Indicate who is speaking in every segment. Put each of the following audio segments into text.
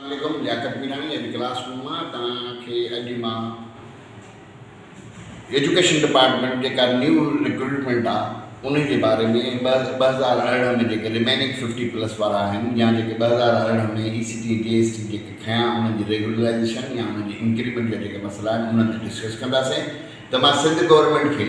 Speaker 1: عليڪم لياقت ميراڻي اڄ class room مان توهان کي اڄ مان ايجوڪيشن ڊپارٽمينٽ جيڪا نيو رڪروٽمينٽ آ انهي جي باري ۾ ٻه ٻه هزار ارڙهن ۾ جيڪي رميننگ ففٽي پلس وارا آهن يا جيڪي ٻه هزار ارڙهن ۾ اي سي ٽي جي ايس ٽي جيڪي کنيا انهن جي ريگيولرائيزيشن يا انهن جي انڪريمينٽ جا جيڪا مسئلا آهن انهن تي ڊسڪس ڪنداسين ته مان سنڌ گورنمينٽ کي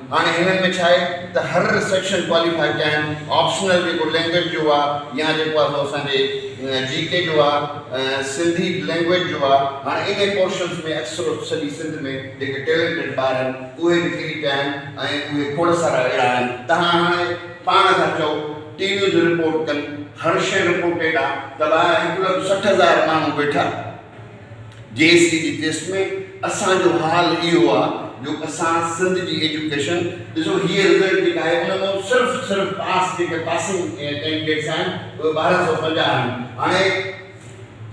Speaker 1: هاڻي هنن ۾ ڇا آهي ته هر سيڪشن ڪواليفائي ڪيا آهن آپشنل جيڪو لينگويج جو آ يا جيڪو آ سو اسان جي جي ڪي جو آ سنڌي لينگويج جو آ هاڻي انهي پورشنس ۾ اڪثر سڄي سنڌ ۾ جيڪي ٽيلينٽيڊ ٻار آهن اهي به ڦري پيا آهن ۽ اهي کوڙ سارا اهڙا آهن ته هاڻي پاڻ ٿا چئو ٽي ويز رپورٽ ڪن هر شئي رپورٽيڊ آ ته ٻاهر هڪ لک سٺ هزار ماڻهو ويٺا جي ايس سي جي ڪيس ۾ اسان جو حال اهو آ جو اسان سنڌ جي ايجوڪيشن ڏسو هيء رزلٽ جيڪا آهي ان مان صرف صرف پاس جيڪي پاسنگ ڪينڊيڊيٽس آهن اهي ٻارهن سؤ پنجاهه آهن هاڻي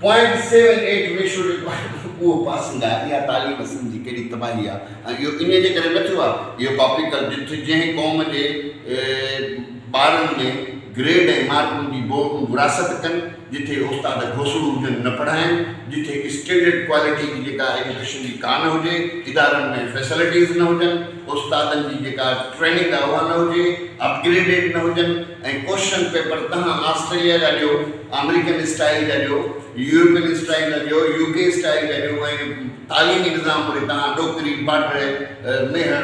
Speaker 1: پوائنٽ سيون ايٽ ريشو جيڪو آهي اهو پاسنگ آهي اها تعليم سنڌ جي ڪهڙي تباهي آهي ۽ اهو انهي جي ڪري نه ٿيو آهي اهو ڪاپي ڪر جتي جنهن قوم جي ٻارن ۾ گريڊ ۽ مارڪن جي وراثت ڪن جتي استاد گوسڙو هجن نه پڙهائين، جتي اسٽينڊرڊ ڪوالٽي جي جيڪا ايجوڪيشن جي ڪا نه هجي، ادارن ۾ فيسلٽيز نه هجن، استادن جي جيڪا ٽريننگ آ اها نه هجي، اپگريڊيڊ نه هجن ۽ ڪوشچن پيپر تهان آسٽريليا جا ڏيو، آمريڪن اسٽائيل جا ڏيو، يورپين اسٽائيل جا ڏيو، يو ڪي اسٽائيل جا ڏيو ۽ تعليمي نظام وڙي تهان ڏوڪري، باڊري، ميهڙ،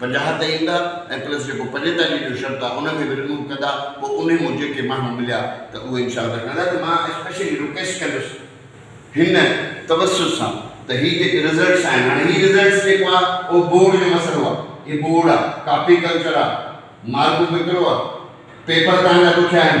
Speaker 1: پنجاهه تي ايندا ۽ پلس جيڪو پنجيتاليهه جو شرط آ ان کي به رموو ڪندا پوء انهي مون جيڪي ماڻهو مليا ته اهي انشاء الله ڪندا ته مان اسپيشلي رڪويسٽ ڪندس هن توسط سان ته هي جيڪي رزلٽس آهن هاڻي هي رزلٽس جيڪو آ اهو بورڊ جو مسئلو آ هي بورڊ آ ڪاپي ڪلچر آ مارڪون ڪيترو آ پيپر تهانجا ڏکيا آهن.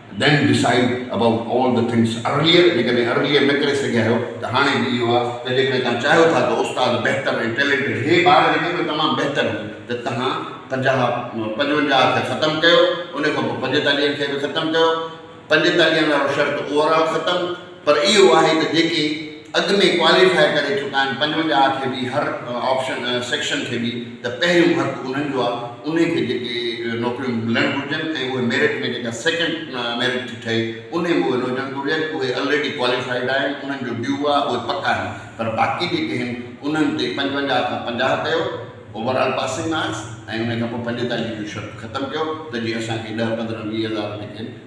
Speaker 1: Then decide about all the things earlier جيڪڏهن earlier نه ڪري سگهيا آهيو ته هاڻي به اهو آهي ته جيڪڏهن توهان چاهيو ٿا ته استاد بهتر ۽ ٽيلينٽيڊ هي ٻار جيڪي به تمام بهتر هو ته توهان پنجاهه پنجونجاهه کي ختم ڪيو ان کان پوء پنجيتاليهن کي به ختم ڪيو پنجيتاليهن وارو شرط اوور آل ختم پر اهو آهي ته جيڪي اڳ ۾ ڪواليفاء ڪري چڪا آهن پنجونجاهه کي به هر آپشن سيڪشن کي به ته پهريون حق انهن جو آهي انهي کي جيڪي نوڪريون ملڻ گهرجن ۽ اهي ميرٽ ۾ جيڪا سيڪنڊ ميرٽ ٿي ٺهي انهي ۾ اهي نه هجڻ گهرجن اهي الريڊي ڪواليفائيڊ آهن انهن جو ڊيو آهي اهي پڪا آهن پر باقي جيڪي آهن انهن تي پنجونجاهه کان پنجاهه ڪيو اوور آل پاسنگ مارڪس ۽ انهي کان پوء پنجيتاليهه جون شرطون ختم ڪيو ته جي اسان کي ڏهه پندرهن ويهه هزار جيڪي آهن